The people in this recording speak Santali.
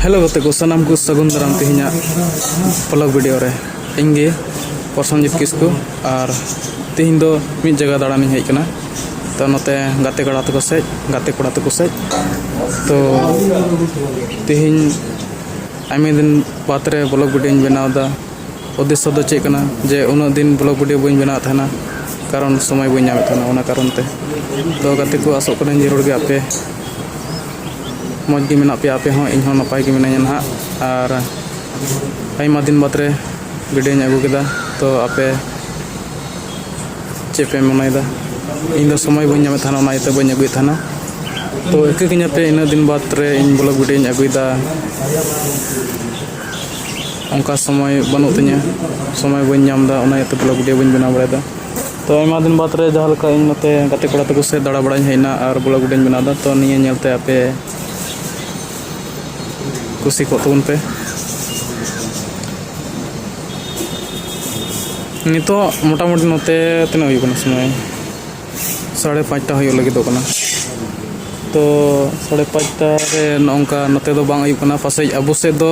ᱦᱮᱞᱳ ᱜᱟᱛᱮ ᱠᱚ ᱥᱟᱱᱟᱢ ᱠᱚ ᱥᱟᱹᱜᱩᱱ ᱫᱟᱨᱟᱢ ᱛᱮᱦᱮᱧᱟᱜ ᱯᱷᱞᱚᱜ ᱵᱷᱤᱰᱤᱭᱳ ᱨᱮ ᱤᱧ ᱜᱮ ᱯᱨᱚᱥᱚᱱᱡᱤᱛ ᱠᱤᱥᱠᱩ ᱟᱨ ᱛᱮᱦᱮᱧ ᱫᱚ ᱢᱤᱫ ᱡᱟᱭᱜᱟ ᱫᱟᱬᱟᱱᱤᱧ ᱦᱮᱡ ᱠᱟᱱᱟ ᱛᱚ ᱱᱚᱛᱮ ᱜᱟᱛᱮ ᱠᱚᱲᱟ ᱛᱟᱠᱚ ᱥᱮᱡ ᱜᱟᱛᱮ ᱠᱚᱲᱟ ᱛᱟᱠᱚ ᱥᱮᱡ ᱛᱚ ᱛᱮᱦᱮᱧ ᱟᱭᱢᱟ ᱫᱤᱱ ᱵᱟᱫᱽ ᱨᱮ ᱵᱷᱞᱚᱜ ᱵᱷᱤᱰᱤᱭᱳᱧ ᱵᱮᱱᱟᱣ ᱮᱫᱟ ᱩᱫᱽᱫᱮᱥᱥᱚ ᱫᱚ ᱪᱮᱫ ᱠᱟᱱᱟ ᱡᱮ ᱩᱱᱟᱹᱜ ᱫᱤᱱ ᱵᱞᱚᱜ ᱵᱷᱤᱰᱤᱭᱳ ᱵᱟᱹᱧ ᱵᱮᱱᱟᱣᱮᱫ ᱛᱟᱦᱮᱱᱟ ᱠᱟᱨᱚᱱ ᱥᱚᱢᱚᱭ ᱵᱟᱹᱧ ᱧᱟᱢᱮᱫ ᱛᱟᱦᱮᱱᱟ ᱚᱱᱟ ᱠᱟᱨᱚᱱ ᱛᱮ ᱛᱚ ᱜᱟᱛᱮ ᱠᱚ ᱟᱥᱚᱜ ᱠᱟᱹᱱᱟᱹᱧ ᱡᱟᱹᱨᱩᱲ ᱜᱮ ᱟᱯᱮ ᱢᱚᱡᱽ ᱜᱮ ᱢᱮᱱᱟᱜ ᱯᱮᱭᱟ ᱟᱯᱮ ᱦᱚᱸ ᱤᱧ ᱦᱚᱸ ᱱᱟᱯᱟᱭ ᱜᱮ ᱢᱤᱱᱟᱹᱧᱟ ᱱᱟᱦᱟᱜ ᱟᱨ ᱟᱭᱢᱟ ᱫᱤᱱ ᱵᱟᱫᱽ ᱨᱮ ᱵᱷᱤᱰᱤᱭᱳᱧ ᱟᱹᱜᱩ ᱠᱮᱫᱟ ᱛᱚ ᱟᱯᱮ ᱪᱮᱫ ᱯᱮ ᱢᱚᱱᱮᱭᱮᱫᱟ ᱤᱧ ᱫᱚ ᱥᱚᱢᱚᱭ ᱵᱟᱹᱧ ᱧᱟᱢᱮᱫ ᱛᱟᱦᱮᱱᱟ ᱚᱱᱟ ᱤᱭᱟᱹᱛᱮ ᱵᱟᱹᱧ ᱟᱹᱜᱩᱭᱮᱫ ᱛᱟᱦᱮᱱᱟ ᱛᱚ ᱤᱠᱟᱹ ᱠᱟᱹᱧᱟᱯᱮ ᱤᱱᱟᱹᱜ ᱫᱤᱱ ᱵᱟᱫᱽ ᱨᱮ ᱤᱧ ᱵᱞᱚᱜ ᱵᱷᱤᱰᱤᱭᱳᱧ ᱟᱹᱜᱩᱭᱮᱫᱟ ᱚᱱᱠᱟ ᱥᱚᱢᱚᱭ ᱵᱟᱹᱱᱩᱜ ᱛᱤᱧᱟᱹ ᱥᱚᱢᱚᱭ ᱵᱟᱹᱧ ᱧᱟᱢ ᱮᱫᱟ ᱚᱱᱟ ᱤᱭᱟᱹᱛᱮ ᱵᱞᱚᱜᱽ ᱵᱷᱤᱰᱭᱳ ᱵᱟᱹᱧ ᱵᱮᱱᱟᱣ ᱵᱟᱲᱟᱭᱮᱫᱟ ᱛᱚ ᱟᱭᱢᱟ ᱫᱤᱱ ᱵᱟᱫᱽ ᱨᱮ ᱡᱟᱦᱟᱸ ᱞᱮᱠᱟ ᱤᱧ ᱱᱚᱛᱮ ᱜᱟᱛᱮ ᱠᱚᱲᱟ ᱛᱟᱠᱚ ᱥᱮᱫ ᱫᱟᱬᱟ ᱵᱟᱲᱟᱧ ᱦᱮᱡ ᱮᱱᱟ ᱟᱨ ᱵᱞᱚᱜᱽ ᱵᱷᱤᱰᱭᱳᱧ ᱵᱮᱱᱟᱣ ᱮᱫᱟ ᱛᱚ ᱱᱤᱭᱟᱹ ᱧᱮᱞᱛᱮ ᱟᱯᱮ ᱠᱩᱥᱤ ᱠᱚᱜ ᱛᱟᱵᱚᱱ ᱯᱮ ᱱᱤᱛᱚᱜ ᱢᱚᱴᱟᱢᱩᱴᱤ ᱱᱚᱛᱮ ᱛᱤᱱᱟᱹᱜ ᱦᱩᱭᱩᱜ ᱠᱟᱱᱟ ᱥᱚᱢᱚᱭ ᱥᱟᱲᱮ ᱯᱟᱸᱪᱴᱟ ᱦᱩᱭᱩᱜ ᱞᱟᱹᱜᱤᱫᱚᱜ ᱠᱟᱱᱟ ᱛᱚ ᱥᱟᱲᱮ ᱯᱟᱸᱪᱴᱟ ᱨᱮ ᱱᱚᱜᱼᱚ ᱱᱚᱝᱠᱟ ᱱᱚᱛᱮ ᱫᱚ ᱵᱟᱝ ᱟᱹᱭᱩᱵ ᱠᱟᱱᱟ ᱯᱟᱥᱮᱡ ᱟᱵᱚ ᱥᱮᱫ ᱫᱚ